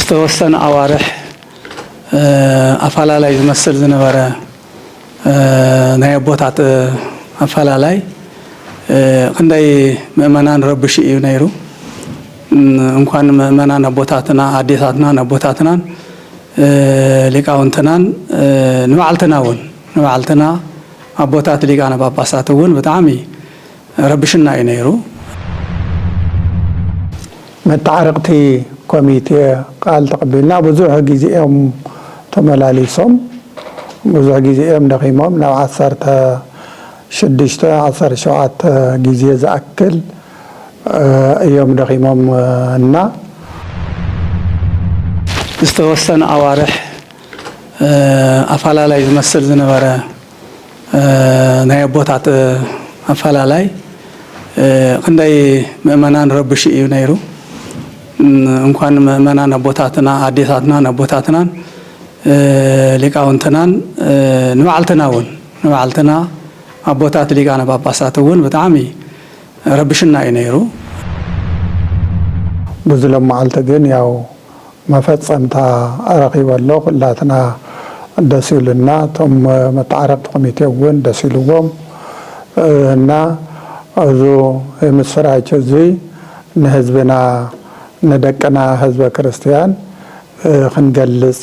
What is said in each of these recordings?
ዝተወሰነ ኣዋርሕ ኣፈላላይ ዝመስል ዝነበረ ናይ ኣቦታት ኣፈላላይ ክንደይ ምእመናን ረብሹ እዩ ነይሩ። እንኳን ምእመናን ኣቦታትና ኣዴታትናን ኣቦታትናን ሊቃውንትናን ንባዕልትና እውን ንባዕልትና ኣቦታት ሊቃነ ጳጳሳት እውን ብጣዕሚ ረብሹና እዩ ነይሩ። መተዓረቕቲ ኮሚቴ ቃል ተቐቢልና ብዙሕ ግዜ እዮም ተመላሊሶም። ብዙሕ ግዜ እዮም ደኺሞም ናብ ዓሰርተ ሽዱሽተ ዓሰርተ ሸውዓተ ግዜ ዝኣክል እዮም ደኺሞም እና። ዝተወሰነ ኣዋርሕ ኣፋላላይ ዝመስል ዝነበረ ናይ ኣቦታት ኣፋላላይ ክንደይ ምእመናን ረብሹ እዩ ነይሩ። እንኳን ምእመናን ኣቦታትና ኣዴታትናን ኣቦታትናን ሊቃውንትናን ንባዕልትና እውን ንባዕልትና ኣቦታት ሊቃነ ጳጳሳት እውን ብጣዕሚ ረብሽና እዩ ነይሩ። ብዙ ሎም መዓልቲ ግን ያው መፈጸምታ ኣረኪበ ኣሎ ኩላትና ደስ ኢሉና እቶም መተዓረቅቲ ኮሚቴ ውን ደስ ኢልዎም እና እዙ የምስራች እዙይ ንህዝብና ንደቅና ህዝበ ክርስትያን ክንገልጽ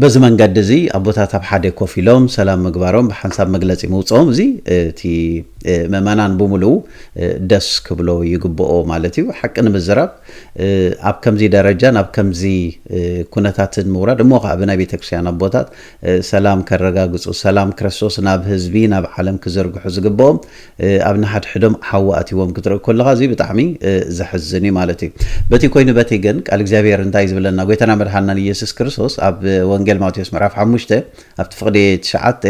በዚ መንገዲ እዚ ኣቦታት ኣብ ሓደ ኮፍ ኢሎም ሰላም ምግባሮም ብሓንሳብ መግለጺ ምውጽኦም እዚ እቲ ምእመናን ብምሉኡ ደስ ክብሎ ይግብኦ ማለት እዩ። ሓቂ ንምዝራብ ኣብ ከምዚ ደረጃ ናብ ከምዚ ኩነታትን ምውራድ እሞ ከኣ ብናይ ቤተክርስቲያን ኣቦታት ሰላም ከረጋግጹ ሰላም ክርስቶስ ናብ ህዝቢ ናብ ዓለም ክዝርግሑ ዝግብኦም ኣብ ንሓድሕዶም ሓዊ ኣትይዎም ክትርኢ ኮለኻ እዚ ብጣዕሚ ዘሕዝን እዩ ማለት እዩ። በቲ ኮይኑ በቲ ግን ቃል እግዚኣብሔር እንታይ እዩ ዝብለና ጎይታና መድሓንናን ኢየሱስ ክርስቶስ ኣብ ወንጌል ማቴዎስ ምዕራፍ ሓሙሽተ ኣብቲ ፍቅዲ ትሽዓተ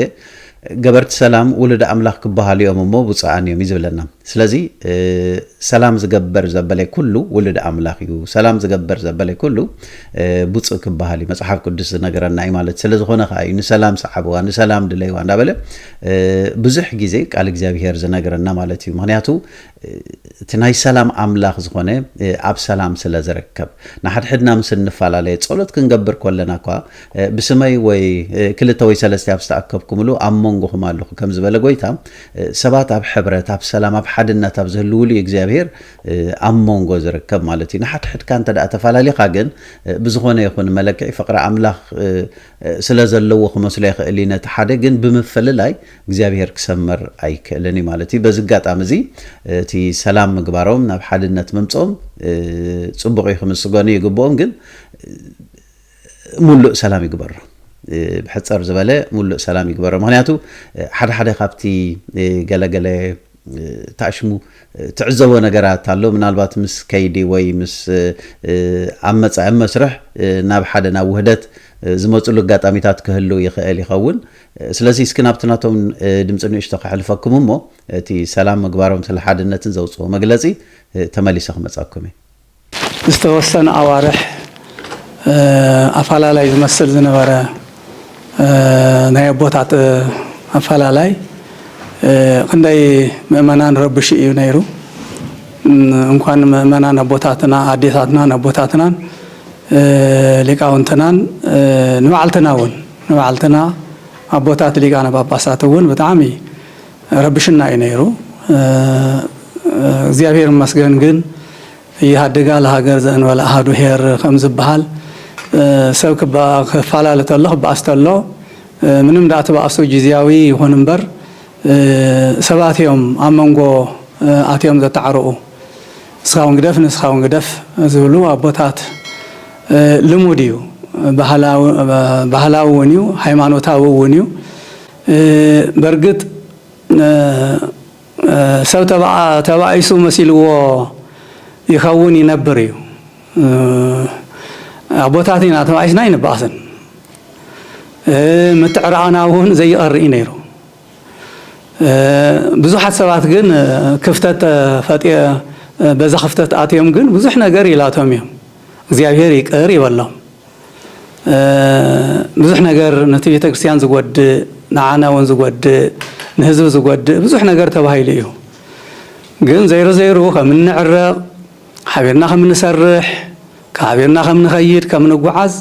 ገበርቲ ሰላም ውሉድ ኣምላኽ ክበሃሉ እዮም እሞ ብፁዓን እዮም እዩ ዝብለና። ስለዚ ሰላም ዝገበር ዘበለ ኩሉ ውሉድ ኣምላኽ እዩ፣ ሰላም ዝገበር ዘበለ ኩሉ ብፁዕ ክበሃል እዩ መጽሓፍ ቅዱስ ዝነገረና እዩ ማለት ስለዝኾነ ከኣ እዩ ንሰላም ሰዓብዋ ንሰላም ድለይዋ እንዳበለ ብዙሕ ግዜ ቃል እግዚኣብሄር ዝነግረና ማለት እዩ ምክንያቱ እቲ ናይ ሰላም ኣምላኽ ዝኾነ ኣብ ሰላም ስለ ዝርከብ ንሓድሕድና ምስ እንፈላለየ ጸሎት ክንገብር ኮለና እኳ ብስመይ ወይ ክልተ ወይ ሰለስተ ኣብ ዝተኣከብኩምሉ ኣብ መንጎኹም ኣለኹ ከም ዝበለ ጎይታ ሰባት ኣብ ሕብረት ኣብ ሰላም ኣብ ሓድነት ኣብ ዝህልውሉ እዩ እግዚኣብሄር ኣብ መንጎ ዝርከብ ማለት እዩ ንሓድሕድካ እንተ ተፈላለኻ ግን ብዝኾነ ይኹን መለክዒ ፍቕሪ ኣምላኽ ስለ ዘለዎ ክመስሎ ይኽእል እዩ ነቲ ሓደ ግን ብምፍልላይ እግዚኣብሄር ክሰምር ኣይክእልን እዩ ማለት እዩ። በዚ ኣጋጣሚ እዚ እቲ ሰላም ምግባሮም ናብ ሓድነት ምምጽኦም ጽቡቕ እዩ ክምስገኑ ይግብኦም ግን ሙሉእ ሰላም ይግበሮ ብሕጽር ዝበለ ሙሉእ ሰላም ይግበሮ ምክንያቱ ሓደ ሓደ ካብቲ ገለገለ ታሽሙ ትዕዘቦ ነገራት ኣሎ ምናልባት ምስ ከይዲ ወይ ምስ ኣብ መፃኢ ኣብ መስርሕ ናብ ሓደ ናብ ውህደት ዝመፅሉ ኣጋጣሚታት ክህሉ ይኽእል ይኸውን ስለዚ እስኪ ናብቲ ናቶም ድምፂ ንእሽቶ ከሕልፈኩም እሞ እቲ ሰላም ምግባሮም ስለ ሓድነትን ዘውፅኦ መግለፂ ተመሊሰ ክመፀኩም እየ ዝተወሰነ ኣዋርሕ ኣፋላላይ ዝመስል ዝነበረ ናይ ኣቦታት ኣፋላላይ ክንደይ ምእመናን ረብሹ እዩ ነይሩ። እንኳን ንምእመናን ኣቦታትና ኣዴታትናን ኣቦታትናን ሊቃውንትናን ንባዕልትና እውን ንባዕልትና ኣቦታት ሊቃነ ጳጳሳት እውን ብጣዕሚ ረብሽና እዩ ነይሩ እግዚኣብሔር ይመስገን ግን እየሃድግ ኣል ሃገር ዘእንበለ ኣሃዱ ሄር ከምዝበሃል ሰብ ክፋላለ ተሎ ክበኣስ ተሎ ምንም ደኣ ትበኣሱ ጊዚያዊ ይኹን እምበር ሰባት እዮም ኣብ መንጎ ኣትዮም ዘተዓርቑ ንስኻ እውን ግደፍ ንስኻ እውን ግደፍ ዝብሉ ኣቦታት ልሙድ እዩ ባህላዊ እውን እዩ ሃይማኖታዊ እውን እዩ በርግጥ ሰብ ተባኢሱ መሲልዎ ይኸውን ይነብር እዩ። ኣቦታት ኢና ተባኢስና ኣይንበኣስን። ምትዕርራቕና እውን ዘይቐሪ እዩ ነይሩ። ብዙሓት ሰባት ግን ክፍተት ፈጢ በዛ ክፍተት ኣትዮም ግን ብዙሕ ነገር ኢላቶም እዮም። እግዚኣብሔር ይቅር ይበሎም። ብዙሕ ነገር ነቲ ቤተ ክርስቲያን ዝጎድእ ንዓና እውን ዝጎድእ ንህዝቢ ዝጎድእ ብዙሕ ነገር ተባሂሉ እዩ ግን ዘይሩ ዘይሩ ከም እንዕረቕ ሓቢርና ከም እንሰርሕ ሓቢርና ከም ንኸይድ ከም ንጓዓዝ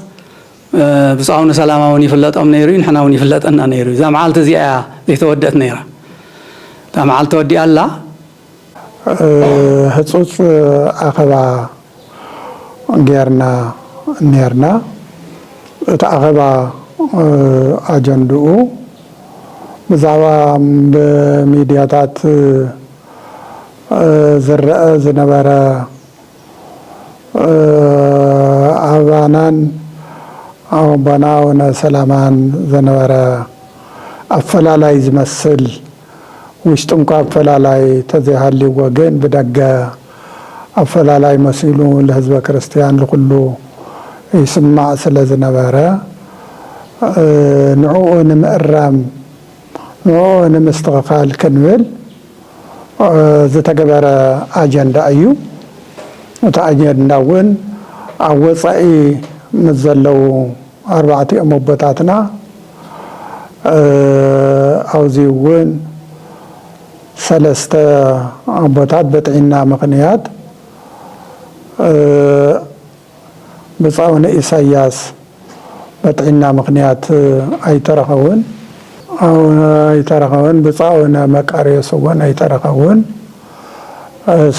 ብፁዕ ኣቡነ ሰላማ እውን ይፍለጦም ነይሩ እዩ ንሕና እውን ይፍለጠና ነይሩ እዩ እዛ መዓልቲ እዚኣ እያ ዘይተወድአት ነይራ እታ መዓልቲ ተወዲኣ ኣላ ህፁፅ ኣኸባ ገይርና ነይርና። እቲ ኣኸባ ኣጀንድኡ ብዛዕባ ብሚድያታት ዝረኣ ዝነበረ ኣባናን ኣቦና ኣቡነ ሰላማን ዝነበረ ኣፈላላይ ዝመስል፣ ውሽጡንኳ ኣፈላላይ ተዘይሃልይዎ ግን ብደገ ኣፈላላይ መሲሉ ልህዝበ ክርስትያን ልኹሉ ይስማዕ ስለ ዝነበረ ንዕኡ ንምእራም ንዕኡ ንምስትኽኻል ክንብል ዝተገበረ ኣጀንዳ እዩ። እቲ ኣጀንዳውን ኣብ ወጻኢ ምስ ዘለዉ ኣርባዕቲኦም ኣቦታትና ኣውዚ እውን ሰለስተ ኣቦታት በጥዒና ምኽንያት ብጻኡኒ ኢሳያስ በጥዒና ምኽንያት ኣይተረኸቡን። ኣይተረኸቡን ብጻኡነ መቃርዮስ እውን ኣይተረኸቡን።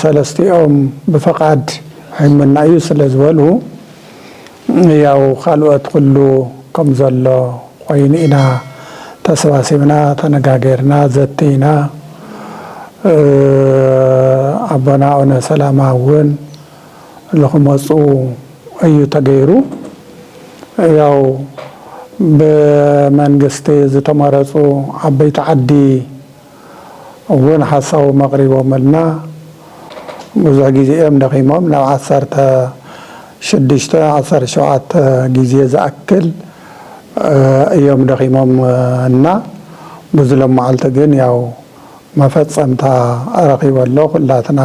ሰለስቲኦም ብፍቓድ ሕይምና እዩ ስለ ዝበሉ፣ ህያው ካልኦት ኩሉ ከም ዘሎ ኮይኑ ኢና ተሰባሲብና ተነጋገርና ዘቲና ኣቦና ኣውነ ሰላማ ውን ልክመጹ እዩ ተገይሩ ያው ብመንግስቲ ዝተመረጹ ዓበይቲ ዓዲ እውን ሓሳቦም ኣቕሪቦምልና። ብዙሕ ግዜ እዮም ደኺሞም፣ ናብ ዓሰርተ ሽዱሽተ፣ ዓሰርተ ሸውዓተ ግዜ ዝኣክል እዮም ደኺሞም እና ብዙ ሎማዓልቲ ግን ያው መፈፀምታ ረኺቡ ኣሎ። ኩላትና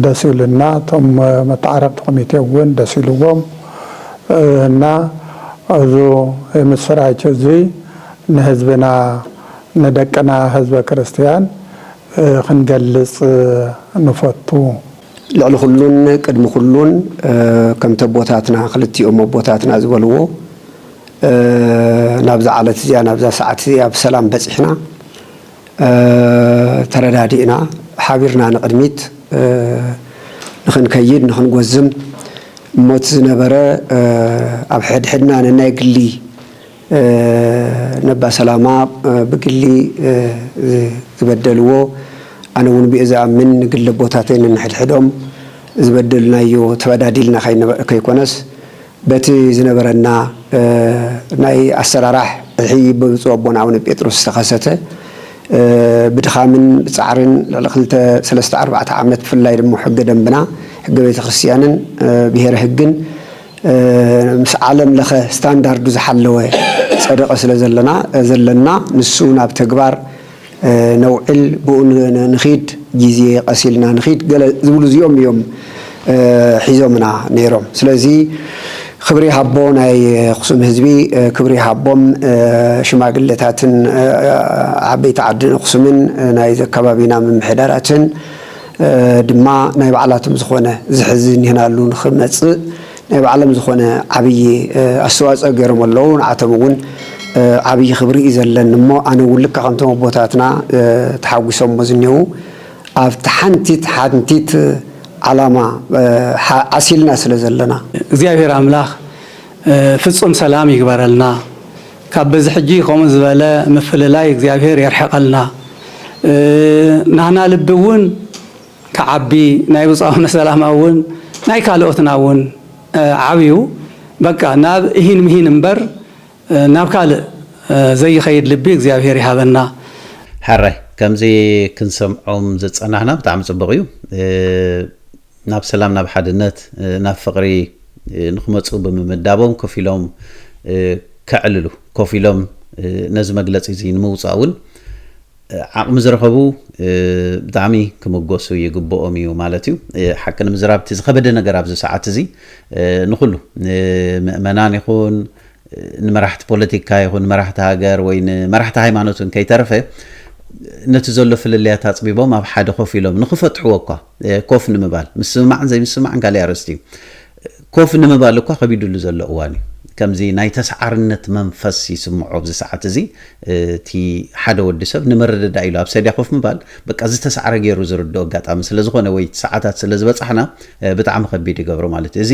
ደስ ኢሉና፣ እቶም መተዓረቕቲ ኮሚቴ እውን ደስ ኢልዎም እና እዙ የምስራች እዙይ ንህዝብና ንደቅና ህዝበ ክርስትያን ክንገልጽ ንፈቱ። ልዕሊ ኩሉን ቅድሚ ኩሉን ከምቲ ኣቦታትና ክልቲኦም ኣቦታትና ዝበልዎ ናብዛ ዓለት እዚኣ ናብዛ ሰዓት እዚኣ ብሰላም በጺሕና ተረዳዲእና ሓቢርና ንቕድሚት ንኽንከይድ ንኽንጎዝም እሞ እቲ ዝነበረ ኣብ ሕድሕድና ነናይ ግሊ ነባ ሰላማ ብግሊ ዝበደልዎ ኣነ ውን ብኡ ዝኣምን ንግሊ ኣቦታተይ ነንሕድሕዶም ዝበደሉናዮ ተበዳዲልና ከይኮነስ በቲ ዝነበረና ናይ ኣሰራራሕ እሒ ብብፁእ ኣቦና ኣቡነ ጴጥሮስ ዝተኸሰተ ብድኻምን ብፃዕርን ልዕሊ ክልተ ሰለስተ ኣርባዕተ ዓመት ብፍላይ ድማ ሕገ ደንብና ሕገ ቤተክርስትያንን ብሄረ ህግን ምስ ዓለም ለኸ ስታንዳርዱ ዝሓለወ ፀደቐ ስለ ዘለና ንሱ ናብ ተግባር ነውዕል ብኡ ንኺድ ጊዜ ቐስ ኢልና ንኺድ ገለ ዝብሉ እዚኦም እዮም ሒዞምና ነይሮም ስለዚ ኽብሪ ይሃቦ ናይ ኣኽሱም ህዝቢ ክብሪ ይሃቦም ሽማግለታትን ዓበይቲ ዓዲ ኣኽሱምን ናይዚ ኣከባቢና ምምሕዳራትን ድማ ናይ ባዕላቶም ዝኾነ ዝሕዚ ኒህናሉ ንኽመጽእ ናይ ባዕሎም ዝኾነ ዓብዪ ኣስተዋጽኦ ገይሮም ኣለዉ። ንዓቶም እውን ዓብዪ ክብሪ እዩ ዘለኒ እሞ ኣነ እውን ልክዕ ከምቶም ኣቦታትና ተሓጒሶሞ ዝኔዉ ኣብቲ ሓንቲት ሓንቲት ዓላማ ዓሲልና ስለ ዘለና። እግዚኣብሔር ኣምላክ ፍፁም ሰላም ይግበረልና። ካብ በዚ ሕጂ ከምኡ ዝበለ ምፍልላይ እግዚኣብሔር የርሕቀልና ናህና ልቢ እውን ክዓቢ ናይ ብጹእ ኣቡነ ሰላማ እውን ናይ ካልኦትና እውን ዓብዩ በቃ ናብ እሂን ምሂን እምበር ናብ ካልእ ዘይከይድ ልቢ እግዚኣብሔር ይሃበና። ሕራይ ከምዚ ክንሰምዖም ዝጸናሕና ብጣዕሚ ጽቡቅ እዩ። ናብ ሰላም ናብ ሓድነት ናብ ፍቕሪ ንክመጹ ብምምዳቦም ኮፍ ኢሎም ከዕልሉ ኮፍ ኢሎም ነዚ መግለጺ እዚ ንምውጻእ እውን ዓቕሚ ዝረኸቡ ብጣዕሚ ክምጎሱ ይግብኦም እዩ ማለት እዩ። ሓቂ ንምዝራብ እቲ ዝኸበደ ነገር ኣብዚ ሰዓት እዚ ንኹሉ ንምእመናን ይኹን ንመራሕቲ ፖለቲካ ይኹን ንመራሕቲ ሃገር ወይ ንመራሕቲ ሃይማኖት እውን ከይተረፈ ነቲ ዘሎ ፍልልያት ኣጽቢቦም ኣብ ሓደ ኮፍ ኢሎም ንክፈትሕዎ እኳ ኮፍ ንምባል ምስምማዕን ዘይምስምማዕን ካሊእ ኣርእስቲ እዩ። ኮፍ ንምባል እኳ ከቢዱሉ ዘሎ እዋን እዩ። ከምዚ ናይ ተሰዓርነት መንፈስ ይስምዖ ኣብዚ ሰዓት እዚ እቲ ሓደ ወዲ ሰብ ንምርድዳእ ኢሉ ኣብ ሰድያ ኮፍ ምባል በቃ ዝተሰዓረ ገይሩ ዝርድኦ ኣጋጣሚ ስለ ዝኾነ ወይ ሰዓታት ስለ ዝበጻሕና ብጣዕሚ ከቢድ ይገብሮ ማለት እዩ። እዚ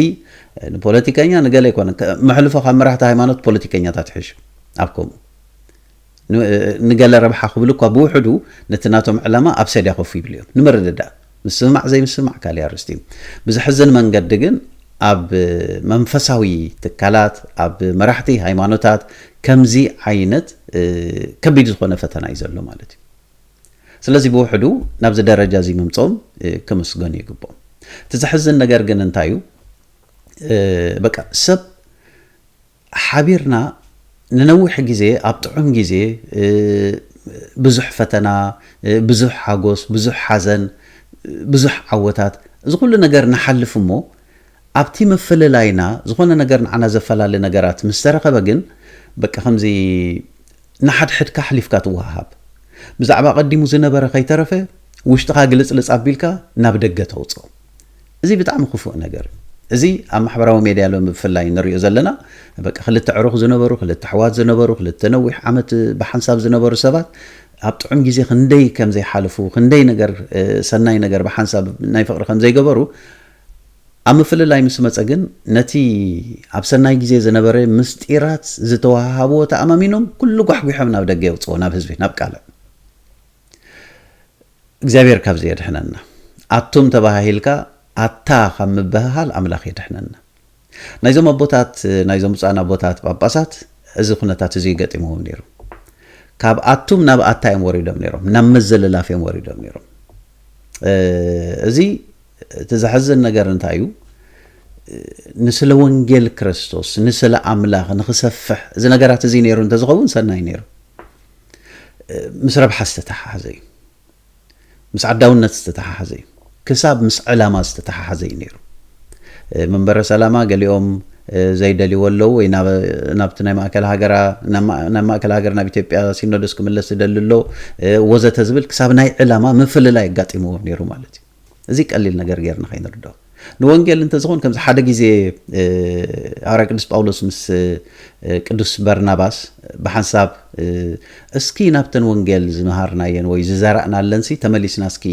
ንፖለቲከኛ ንገለ ኣይኮነን መሕልፎ ካብ መራሕቲ ሃይማኖት ፖለቲከኛታት ይሕሹ ኣብ ከምኡ ንገለ ረብሓ ክብሉ እኳ ብውሕዱ ነቲ ናቶም ዕላማ ኣብ ሰድያ ኮፍ ይብሉ እዮም። ንምርድዳእ ምስምማዕ ዘይምስምማዕ ካልእ ኣርእስቲ እዩ። ብዘሕዝን መንገዲ ግን ኣብ መንፈሳዊ ትካላት፣ ኣብ መራሕቲ ሃይማኖታት ከምዚ ዓይነት ከቢድ ዝኾነ ፈተና እዩ ዘሎ ማለት እዩ። ስለዚ ብውሕዱ ናብዚ ደረጃ እዚ ምምጽኦም ክምስገኑ ይግብኦም። እቲ ዘሕዝን ነገር ግን እንታይ እዩ በቃ ሰብ ሓቢርና ንነዊሕ ግዜ ኣብ ጥዑም ግዜ ብዙሕ ፈተና ብዙሕ ሓጎስ ብዙሕ ሓዘን ብዙሕ ዓወታት እዚ ኩሉ ነገር ንሓልፍ እሞ ኣብቲ ምፍልላይና ዝኾነ ነገር ንዓና ዘፈላሊ ነገራት ምስ ተረኸበ ግን በቃ ከምዚ ንሓድሕድካ ኣሕሊፍካ ትወሃሃብ ብዛዕባ ቀዲሙ ዝነበረ ከይተረፈ ውሽጥኻ ግልጽልጽ ኣቢልካ ናብ ደገ ተውጽኦ እዚ ብጣዕሚ ክፉእ ነገር እዩ። እዚ ኣብ ማሕበራዊ ሜድያ ሎሚ ብፍላይ እንሪኦ ዘለና በቃ ክልተ ኣዕሩኽ ዝነበሩ፣ ክልተ ኣሕዋት ዝነበሩ፣ ክልተ ነዊሕ ዓመት ብሓንሳብ ዝነበሩ ሰባት ኣብ ጥዑም ግዜ ክንደይ ከም ዘይሓለፉ፣ ክንደይ ነገር ሰናይ ነገር ብሓንሳብ ናይ ፍቕሪ ከም ዘይገበሩ ኣብ ምፍልላይ ምስ መጸ ግን ነቲ ኣብ ሰናይ ግዜ ዝነበረ ምስጢራት ዝተወሃሃብዎ ተኣማሚኖም ኩሉ ጓሕጒሖም ናብ ደገ የውጽዎ ናብ ህዝቢ ናብ ቃልዕ እግዚኣብሔር ካብዚ የድሕነና ኣቱም ተባሃሂልካ ኣታ ካብ ምብህሃል ኣምላክ የድሕነና ናይዞም ኣቦታት ናይዞም ብፁዓን ኣቦታት ጳጳሳት እዚ ኩነታት እዚ እዩ ገጢምዎም ነይሩ ካብ ኣቱም ናብ ኣታ እዮም ወሪዶም ነይሮም ናብ ምዝልላፍ እዮም ወሪዶም ነይሮም እዚ እቲ ዘሐዝን ነገር እንታይ እዩ ንስለ ወንጌል ክርስቶስ ንስለ ኣምላኽ ንኽሰፍሕ እዚ ነገራት እዚ ነይሩ እንተዝኸውን ሰናይ ነይሩ ምስ ረብሓ ዝተተሓሓዘ እዩ። ምስ ዓዳውነት ዝተተሓሓዘ እዩ። ክሳብ ምስ ዕላማ ዝተተሓሓዘ እዩ ነይሩ። መንበረ ሰላማ ገሊኦም ዘይደልይዎ ኣለዉ ወይ ናብቲ ናይ ማእከል ሃገራ ናብ ማእከል ሃገር ናብ ኢትዮጵያ ሲኖዶስ ክምለስ ዝደሊ ኣሎ ወዘተ ዝብል ክሳብ ናይ ዕላማ ምፍልላይ ኣጋጢምዎ ነይሩ ማለት እዩ እዚ ቀሊል ነገር ጌርና ከይንርድኦ ንወንጌል እንተዝኾን ከምዚ ሓደ ግዜ ሃዋርያ ቅዱስ ጳውሎስ ምስ ቅዱስ በርናባስ ብሓንሳብ እስኪ ናብተን ወንጌል ዝመሃርናየን ወይ ዝዘራእናለንሲ ተመሊስና እስኪ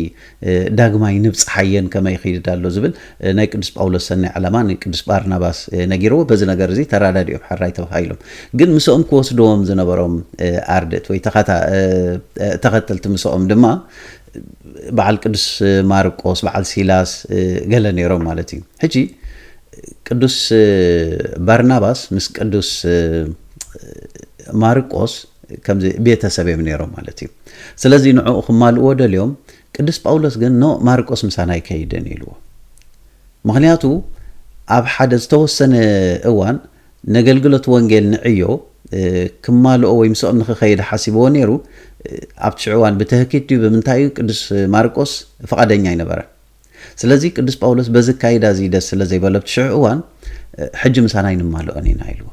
ዳግማይ ንብፅሓየን ከመይ ይኽይድ ኣሎ ዝብል ናይ ቅዱስ ጳውሎስ ሰናይ ዕላማ ንቅዱስ ባርናባስ ነጊርዎ በዚ ነገር እዚ ተረዳዲኦም ሕራይ ተባሂሎም ግን ምስኦም ክወስድዎም ዝነበሮም ኣርድእት ወይ ተኸተልቲ ምስኦም ድማ በዓል ቅዱስ ማርቆስ በዓል ሲላስ ገለ ነይሮም ማለት እዩ ሕጂ ቅዱስ ባርናባስ ምስ ቅዱስ ማርቆስ ከምዚ ቤተሰብ እዮም ነይሮም ማለት እዩ ስለዚ ንዕኡ ክማልእዎ ደልዮም ቅዱስ ጳውሎስ ግን ኖ ማርቆስ ምሳና ኣይከይድን ኢልዎ ምክንያቱ ኣብ ሓደ ዝተወሰነ እዋን ነገልግሎት ወንጌል ንዕዮ ክማልኦ ወይ ምስኦም ንኽኸይድ ሓሲብዎ ነይሩ፣ ኣብቲ ሽዑ እዋን ብትህኪት ድዩ ብምንታይ እዩ ቅዱስ ማርቆስ ፍቓደኛ ኣይነበረን። ስለዚ ቅዱስ ጳውሎስ በዚ ኣካይዳ እዚ ደስ ስለ ዘይበሎ ኣብቲ ሽዑ እዋን ሕጂ ምሳና ኣይንማልኦን ኢና ኢልዎ።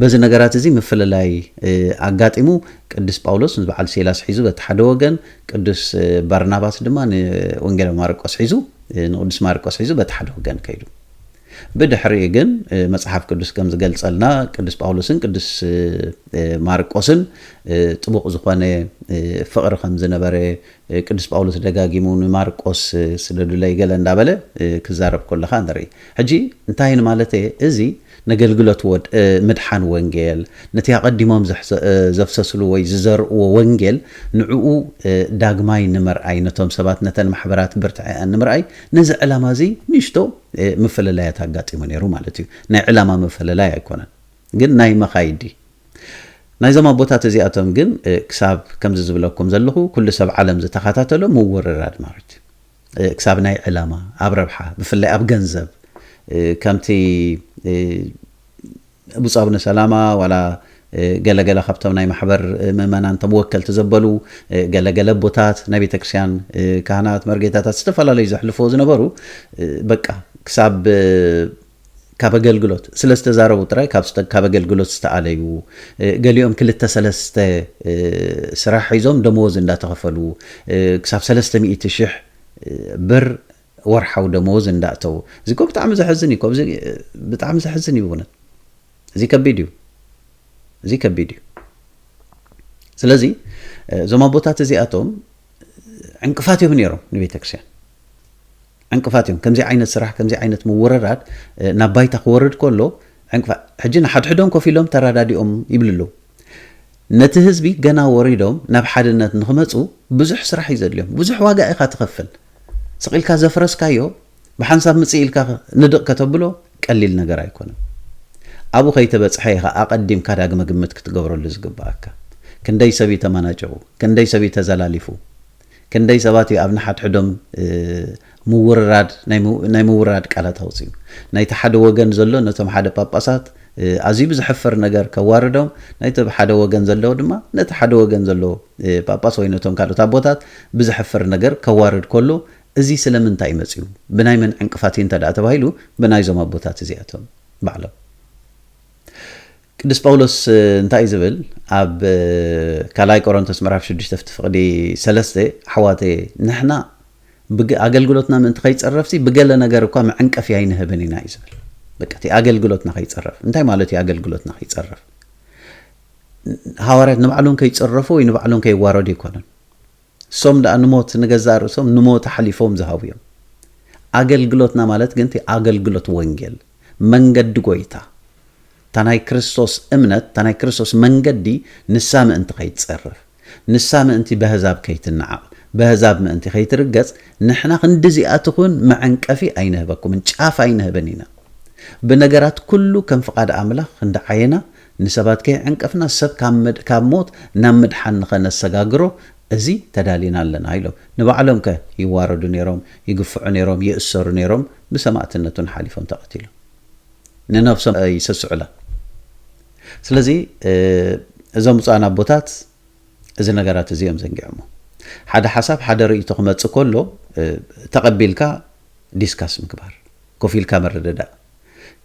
በዚ ነገራት እዚ ምፍልላይ ኣጋጢሙ ቅዱስ ጳውሎስ ንበዓል ሲላስ ሒዙ በቲ ሓደ ወገን፣ ቅዱስ ባርናባስ ድማ ንወንጌላዊ ማርቆስ ሒዙ ንቅዱስ ማርቆስ ሒዙ በቲ ሓደ ወገን ከይዱ። ብድሕሪኡ ግን መጽሓፍ ቅዱስ ከም ዝገልጸልና ቅዱስ ጳውሎስን ቅዱስ ማርቆስን ጥቡቕ ዝኾነ ፍቕሪ ከም ዝነበረ ቅዱስ ጳውሎስ ደጋጊሙ ንማርቆስ ስደዱለይ ገለ እንዳበለ ክዛረብ ኮለኻ ንርኢ። ሕጂ እንታይ ንማለት እየ እዚ ነገልግሎት ወድ ምድሓን ወንጌል ነቲ ኣቐዲሞም ዘፍሰስሉ ወይ ዝዘርእዎ ወንጌል ንዕኡ ዳግማይ ንምርኣይ ነቶም ሰባት ነተን ማሕበራት ብርትዐኣን ንምርኣይ ነዚ ዕላማ እዚ ንእሽቶ ምፍልላያት ኣጋጢሙ ነይሩ ማለት እዩ። ናይ ዕላማ ምፍልላይ ኣይኮነን ግን ናይ መኻይዲ ናይዞም ኣቦታት እዚኣቶም ግን ክሳብ ከምዚ ዝብለኩም ዘለኹ ኩሉ ሰብ ዓለም ዝተኻታተሎ ምውርራድ ማለት እዩ። ክሳብ ናይ ዕላማ ኣብ ረብሓ ብፍላይ ኣብ ገንዘብ ከምቲ ብፁዕ ኣቡነ ሰላማ ዋላ ገለ ገለ ካብቶም ናይ ማሕበር ምእመናን እቶም ወከልቲ ዘበሉ ገለ ገለ ኣቦታት ናይ ቤተ ክርስቲያን ካህናት መርጌታታት ዝተፈላለዩ ዘሕልፍዎ ዝነበሩ በቃ ክሳብ ካብ ኣገልግሎት ስለ ዝተዛረቡ ጥራይ ካብ ኣገልግሎት ዝተኣለዩ ገሊኦም ክልተ ሰለስተ ስራሕ ሒዞም ደመወዝ እንዳተኸፈሉ ክሳብ ሰለስተ ሚእቲ ሽሕ ብር ወርሓዊ ደመወዝ እንዳእተዉ እዚ እኮ ብጣዕሚ ዘሕዝን እዩ እኮ እዚ ብጣዕሚ ዘሕዝን እዩ ብእውነት እዚ ከቢድ እዩ እዚ ከቢድ እዩ ስለዚ እዞም ኣቦታት እዚኣቶም ዕንቅፋት እዮም ነይሮም ንቤተክርስትያን ዕንቅፋት እዮም ከምዚ ዓይነት ስራሕ ከምዚ ዓይነት ምውርራድ ናብ ባይታ ክወርድ ከሎ ዕንቅፋት ሕጂ ንሓድሕዶም ኮፍ ኢሎም ተረዳዲኦም ይብሉ ኣለዉ ነቲ ህዝቢ ገና ወሪዶም ናብ ሓድነት ንኽመጹ ብዙሕ ስራሕ እዩ ዘድልዮም ብዙሕ ዋጋ ኢኻ ትኸፍል ስቅ ኢልካ ዘፍረስካዮ ብሓንሳብ ምጽእ ኢልካ ንድቅ ከተብሎ ቀሊል ነገር ኣይኮነን ኣብኡ ከይተበጽሐ ኢኻ ኣቀዲምካ ዳግመ ግምት ክትገብረሉ ዝግብኣካ ክንደይ ሰብ እዩ ተመናጭቁ ክንደይ ሰብ እዩ ተዘላሊፉ ክንደይ ሰባት እዩ ኣብ ንሓድሕዶም ምውርራድ ናይ ምውርራድ ቃላት ኣውጺኡ። ናይቲ ሓደ ወገን ዘሎ ነቶም ሓደ ጳጳሳት ኣዝዩ ብዘሕፍር ነገር ከዋርዶም፣ ናይቲ ሓደ ወገን ዘሎ ድማ ነቲ ሓደ ወገን ዘሎ ጳጳስ ወይ ነቶም ካልኦት ኣቦታት ብዘሕፍር ነገር ከዋርድ ከሎ እዚ ስለምንታይ እዩ መጺኡ? ብናይ መን ዕንቅፋት እዩ እንተድኣ ተባሂሉ ብናይዞም ኣቦታት እዚኣቶም ባዕሎም። ቅዱስ ጳውሎስ እንታይ እዩ ዝብል ኣብ ካልኣይ ቆሮንቶስ ምዕራፍ ሽዱሽተ ፍቲ ፍቕዲ ሰለስተ ኣሕዋተየ ንሕና ብግ ኣገልግሎትና ምእንቲ ከይጽረፍሲ ብገለ ነገር እኳ መዕንቀፊ ኣይንህብን ኢና እዩ ዝብል በቃ እቲ ኣገልግሎትና ከይጽረፍ እንታይ ማለት እዩ ኣገልግሎትና ከይጽረፍ ሃዋርያት ንባዕሎም ከይጽረፉ ወይ ንባዕሎም ከይዋረዱ ኣይኮነን ንሶም ድኣ ንሞት ንገዛእ ርእሶም ንሞት ኣሕሊፎም ዝሃቡ እዮም። ኣገልግሎትና ማለት ግን እቲ ኣገልግሎት ወንጌል፣ መንገዲ ጐይታ፣ እታ ናይ ክርስቶስ እምነት፣ እታ ናይ ክርስቶስ መንገዲ ንሳ ምእንቲ ከይትጸረፍ፣ ንሳ ምእንቲ በህዛብ ከይትነዓቕ፣ በህዛብ ምእንቲ ከይትርገጽ ንሕና ክንድዚኣ ትኹን መዐንቀፊ ኣይንህበኩምን፣ ጫፍ ኣይንህብን ኢና። ብነገራት ኩሉ ከም ፍቓድ ኣምላኽ እንዳ ዓየና፣ ንሰባት ከይዐንቀፍና ሰብ ካብ ሞት ናብ ምድሓን ንኸነሰጋግሮ እዚ ተዳሊና ኣለና ኢሎም። ንባዕሎም ከ ይዋረዱ ነይሮም፣ ይግፍዑ ነይሮም፣ ይእሰሩ ነይሮም፣ ብሰማእትነት እውን ሓሊፎም ተቐቲሎም። ንነብሶም ኣይሰስዑላን። ስለዚ እዞም ብፁዓን ኣቦታት እዚ ነገራት እዚ እዮም ዘንጊዖሞ። ሓደ ሓሳብ ሓደ ርእይቶ ክመጽእ ከሎ ተቐቢልካ ዲስካስ ምግባር፣ ኮፍ ኢልካ ምርድዳእ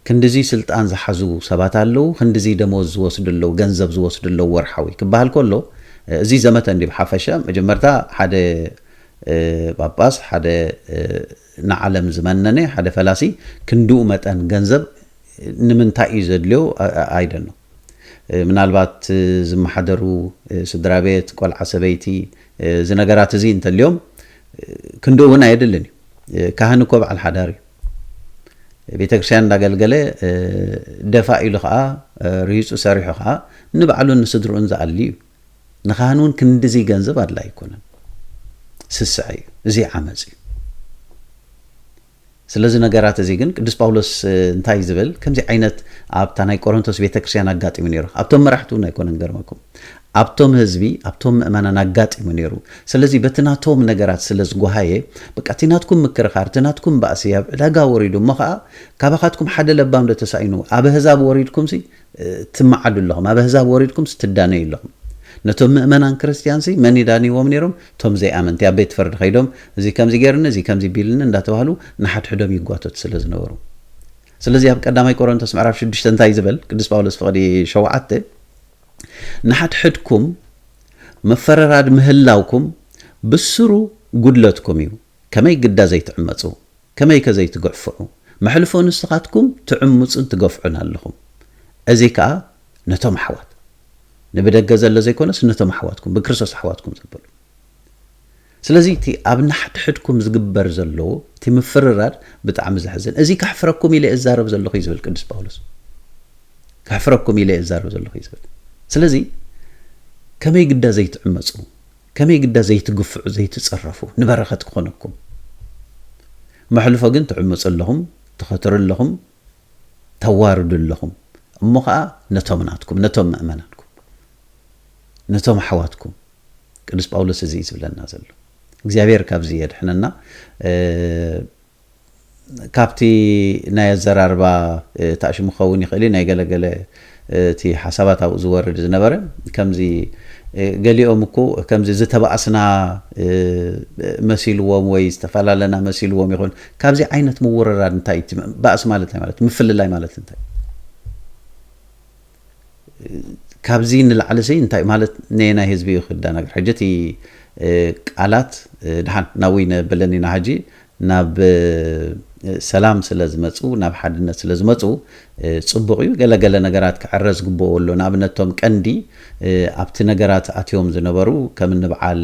ክንድዚ ስልጣን ዝሓዙ ሰባት ኣለው፣ ክንድዚ ደሞዝ ዝወስዱ ኣለው፣ ገንዘብ ዝወስዱ ኣለው ወርሓዊ ክበሃል ከሎ እዚ ዘመተ እንድዩ ብሓፈሻ። መጀመርታ ሓደ ጳጳስ፣ ሓደ ንዓለም ዝመነነ፣ ሓደ ፈላሲ ክንድኡ መጠን ገንዘብ ንምንታይ እዩ ዘድልዮ ኣይ ደኖ። ምናልባት ዝመሓደሩ ስድራቤት፣ ቆልዓ ሰበይቲ፣ እዚ ነገራት እዚ እንተልዮም ክንድኡ እውን ኣየድልን እዩ። ካህን እኮ በዓል ሓዳር እዩ። ቤተክርስቲያን እንዳገልገለ ደፋ ኢሉ ከዓ ርሂፁ ሰሪሑ ከዓ ንባዕሉን ንስድርኡን ዝኣሊ እዩ ንካህን እውን ክንድዚ ገንዘብ ኣድላ ኣይኮነን ስስዐ እዩ እዚ ዓመፅ እዩ ስለዚ ነገራት እዚ ግን ቅዱስ ጳውሎስ እንታይ ዝብል ከምዚ ዓይነት ኣብታ ናይ ቆሮንቶስ ቤተክርስቲያን ኣጋጢሙ ነይሩ ኣብቶም መራሕቲ እውን ኣይኮነን ገርመኩም ኣብቶም ህዝቢ ኣብቶም ምእመናን ኣጋጢሙ ነይሩ ስለዚ በቲ ናቶም ነገራት ስለ ዝጎሃየ በቃ እቲ ናትኩም ምክርኻር እቲ ናትኩም ባእሲ ኣብ ዕዳጋ ወሪዱ እሞ ኸኣ ካባኻትኩም ሓደ ለባም ዶ ተሳኢኑ ኣብ ኣህዛብ ወሪድኩምሲ ትመዓዱ ኣለኹም ኣብ ኣህዛብ ወሪድኩምሲ ትዳነዩ ኣለኹም ነቶም ምእመናን ክርስትያንሲ መን የዳንይዎም ነይሮም እቶም ዘይኣመንቲ ኣብ ቤት ፍርዲ ከይዶም እዚ ከምዚ ገይርኒ እዚ ከምዚ ቢልኒ እንዳተባህሉ ንሓድሕዶም ይጓተቱ ስለ ዝነበሩ ስለዚ ኣብ ቀዳማይ ቆሮንቶስ ምዕራፍ ሽዱሽተ እንታይ እዩ ዝበል ቅዱስ ጳውሎስ ፍቕዲ ሸውዓተ ንሓድሕድኩም ምፍርራድ ምህላውኩም ብስሩ ጉድለትኩም እዩ ከመይ ግዳ ዘይትዕመጹ ከመይከ ዘይትግዕፍዑ መሕልፎ ንስኻትኩም ትዕምጹን ትገፍዑን ኣለኹም እዚ ከኣ ነቶም ኣሕዋት ንብደገ ዘሎ ዘይኮነስ ነቶም ኣሕዋትኩም ብክርስቶስ ኣሕዋትኩም ዘበሉ ስለዚ እቲ ኣብ ናሕድሕድኩም ዝግበር ዘሎ እቲ ምፍርራድ ብጣዕሚ ዘሕዝን እዚ ከሕፍረኩም ኢለ እዛረብ ዘለኹ እዩ ዝብል ቅዱስ ጳውሎስ ከሕፍረኩም ኢለ እዛረብ ዘለኹ እዩ ዝብል ስለዚ ከመይ ግዳ ዘይትዕመፁ ከመይ ግዳ ዘይትግፍዑ ዘይትፀረፉ ንበረኸት ክኾነኩም መሕልፎ ግን ትዕምፁ ኣለኹም ትኸትሩ ኣለኹም ተዋርዱ ኣለኹም እሞ ኸኣ ነቶም ናትኩም ነቶም ምእመናንኩም ነቶም ኣሕዋትኩም ቅዱስ ጳውሎስ እዚ እዩ ዝብለና ዘሎ እግዚኣብሔር ካብዚ የድሕነና ካብቲ ናይ ኣዘራርባ ታእሽሙ ክኸውን ይኽእል እዩ ናይ ገለገለ እቲ ሓሳባት ኣብኡ ዝወርድ ዝነበረ ከምዚ ገሊኦም እኮ ከምዚ ዝተባእስና መሲልዎም ወይ ዝተፈላለና መሲልዎም ይኹን ካብዚ ዓይነት ምውርራድ እንታይ እቲ ባእሲ ማለት እንታይ ማለት ምፍልላይ ማለት እንታይ ካብዚ ንላዕሊ ሲ እንታይ ማለት ነየናይ ህዝቢ እዩ ክዳናገር ሕጂ እቲ ቃላት ድሓን ናብይ ነበለኒና ሕጂ ናብ ሰላም ስለ ዝመጹ ናብ ሓድነት ስለ ዝመጹ ጽቡቕ እዩ። ገለ ገለ ነገራት ክዕረ ዝግብኦ ኣሎ። ንኣብነት እቶም ቀንዲ ኣብቲ ነገራት ኣትዮም ዝነበሩ ከም እኒ በዓል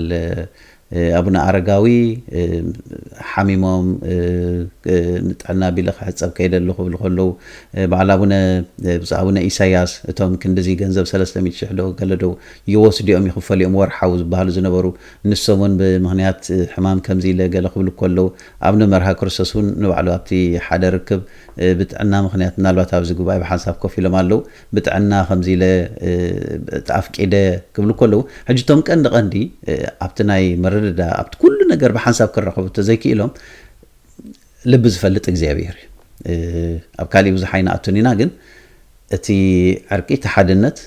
ኣቡነ ኣረጋዊ ሓሚሞም ንጥዕና ቢለ ክሕጸብ ከይደ ኣለኹ ክብሉ ከለዉ በዓል ኣቡነ ብፁዕ ኣቡነ ኢሳያስ እቶም ክንድዚ ገንዘብ ሰለስተ ሚእቲ ሽሕ ዶ ገለ ዶ ይወስድኦም ይኽፈልኦም ወርሓዊ ዝበሃሉ ዝነበሩ ንሶም እውን ብምኽንያት ሕማም ከምዚ ኢለ ገለ ክብሉ ከለዉ፣ ኣብነ መርሃ ክርስቶስ እውን ንባዕሉ ኣብቲ ሓደ ርክብ ብጥዕና ምኽንያት ምናልባት ኣብዚ ጉባኤ ብሓንሳብ ኮፍ ኢሎም ኣለዉ፣ ብጥዕና ከምዚ ኢለ ኣፍቂደ ክብሉ ከለዉ፣ ሕጂ እቶም ቀንዲ ቀንዲ ኣብቲ ናይ ምርድዳእ ኣብቲ ኩሉ ነገር ብሓንሳብ ክራኸቡ እንተዘይክኢሎም ልቢ ዝፈልጥ እግዚኣብሄር እዩ። ኣብ ካሊእ ብዙሕ ኣይንኣቱን ኢና ግን እቲ ዕርቂ እቲ ሓድነት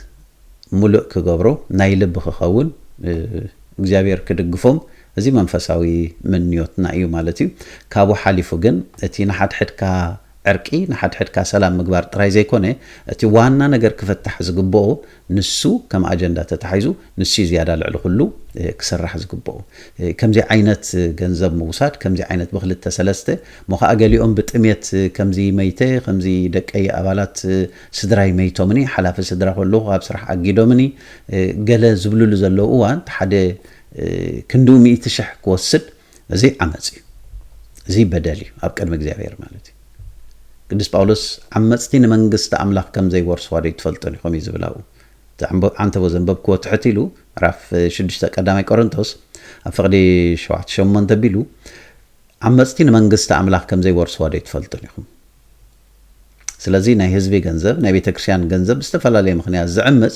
ሙሉእ ክገብሮ ናይ ልብ ክከውን እግዚኣብሔር ክድግፎም እዚ መንፈሳዊ ምንዮትና እዩ ማለት እዩ ካብኡ ሓሊፉ ግን እቲ ንሓድሕድካ ዕርቂ ንሓድሕድካ ሰላም ምግባር ጥራይ ዘይኮነ እቲ ዋና ነገር ክፍታሕ ዝግበኦ ንሱ ከም ኣጀንዳ ተታሒዙ ንሱ እዩ ዝያዳ ልዕሊ ኩሉ ክስራሕ ዝግበኦ ከምዚ ዓይነት ገንዘብ ምውሳድ ከምዚ ዓይነት ብክልተ ሰለስተ እሞ ከኣ ገሊኦም ብጥምየት ከምዚ መይተ ከምዚ ደቀይ ኣባላት ስድራይ መይቶምኒ፣ ሓላፊ ስድራ ከለኹ ካብ ስራሕ ኣጊዶምኒ ገለ ዝብልሉ ዘለዉ እዋን እቲ ሓደ ክንድኡ ሚእቲ ሽሕ ክወስድ እዚ ዓመጽ እዩ። እዚ በደል እዩ ኣብ ቅድሚ እግዚኣብሔር ማለት እዩ። ቅዱስ ጳውሎስ ዓመጽቲ ንመንግስቲ ኣምላኽ ከም ዘይወርስዋ ዶ ኣይትፈልጡን ኢኹም እዩ ዝብል ኣብኡ እቲ ዓንተቦ ዘንበብክዎ ትሕት ኢሉ ምዕራፍ ሽዱሽተ ቀዳማይ ቆሮንቶስ ኣብ ፍቕዲ ሸውዓተ ሸሞንተ ኣቢሉ ዓመጽቲ ንመንግስቲ ኣምላኽ ከም ዘይወርስዋ ዶ ኣይትፈልጡን ኢኹም ስለዚ ናይ ህዝቢ ገንዘብ ናይ ቤተክርስቲያን ገንዘብ ብዝተፈላለየ ምክንያት ዝዕምጽ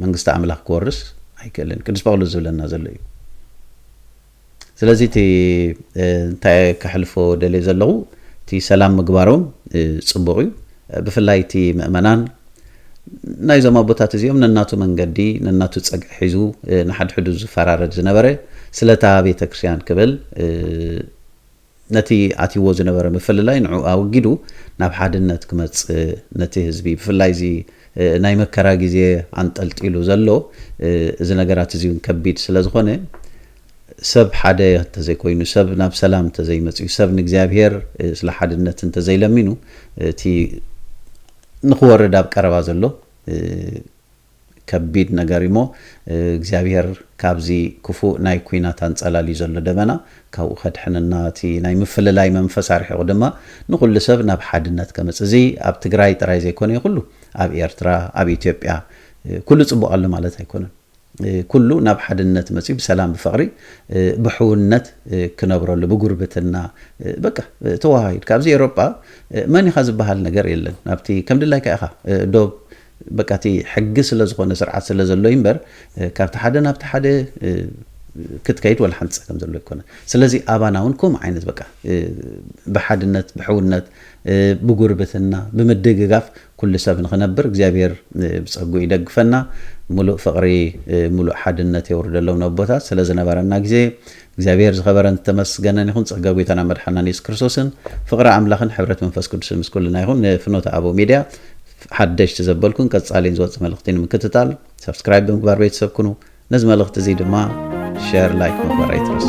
መንግስቲ ኣምላኽ ክወርስ ኣይክእልን ቅዱስ ጳውሎስ ዝብለና ዘሎ እዩ ስለዚ እቲ እንታይ ከሕልፎ ደልየ ዘለኹ እቲ ሰላም ምግባሮም ፅቡቕ እዩ ብፍላይ እቲ ምእመናን ናይዞም ኣቦታት እዚኦም ነናቱ መንገዲ ነናቱ ፀግዒ ሒዙ ንሓድሕዱ ዝፈራረድ ዝነበረ ስለታ ቤተ ክርስቲያን ክብል ነቲ ኣትይዎ ዝነበረ ምፍልላይ ንዕኡ ኣወጊዱ ናብ ሓድነት ክመጽእ ነቲ ህዝቢ ብፍላይ እዚ ናይ መከራ ግዜ ኣንጠልጢሉ ዘሎ እዚ ነገራት እዚ እውን ከቢድ ስለ ዝኾነ ሰብ ሓደ እንተዘይኮይኑ ሰብ ናብ ሰላም እንተዘይመጽዩ ሰብ ንእግዚኣብሄር ስለ ሓድነት እንተዘይለሚኑ እቲ ንክወርድ ኣብ ቀረባ ዘሎ ከቢድ ነገር እዩሞ እግዚኣብሄር ካብዚ ክፉእ ናይ ኲናት ኣንጸላልዩ ዘሎ ደበና ካብኡ ከድሕነና እቲ ናይ ምፍልላይ መንፈስ ኣርሒቑ ድማ ንኹሉ ሰብ ናብ ሓድነት ከምጽእ እዚ ኣብ ትግራይ ጥራይ ዘይኮነ ኩሉ ኣብ ኤርትራ ኣብ ኢትዮጵያ ኩሉ ጽቡቕ ኣሎ ማለት ኣይኮነን ኩሉ ናብ ሓድነት መጽዩ ብሰላም ብፍቕሪ ብሕውነት ክነብረሉ ብጉርብትና በቃ ተወሃሂድ ካብዚ ኤሮጳ መን ኢኻ ዝበሃል ነገር የለን ናብቲ ከም ድላይካ ኢኻ ዶብ በቃ እቲ ሕጊ ስለ ዝኾነ ስርዓት ስለ ዘሎ እዩ እምበር ካብቲ ሓደ ናብቲ ሓደ ክትከይድ ወላ ሓንቲ ጸገም ዘሎ ኣይኮነን። ስለዚ ኣባና እውን ከምኡ ዓይነት በቃ ብሓድነት ብሕውነት ብጉርብትና ብምድግጋፍ ኩሉ ሰብ ንኽነብር እግዚኣብሔር ብጸግኡ ይደግፈና። ምሉእ ፍቕሪ ምሉእ ሓድነት የውርደሎም ነቦታት ስለ ዝነበረና ግዜ እግዚኣብሔር ዝኸበረን ዝተመስገነን ይኹን ፀጋ ጎይታና መድሓናን የሱስ ክርስቶስን ፍቕሪ ኣምላኽን ሕብረት መንፈስ ቅዱስን ምስ ኩልና ይኹን ንፍኖተ ኣበው ሚድያ ሓደሽቲ ዘበልኩን ቀፃሊን ዝወፅእ መልእኽቲ ንምክትታል ሰብስክራይብ ብምግባር ቤተሰብ ኩኑ ነዚ መልእኽቲ እዙይ ድማ ሸር ላይክ ምግባር ኣይትረሱ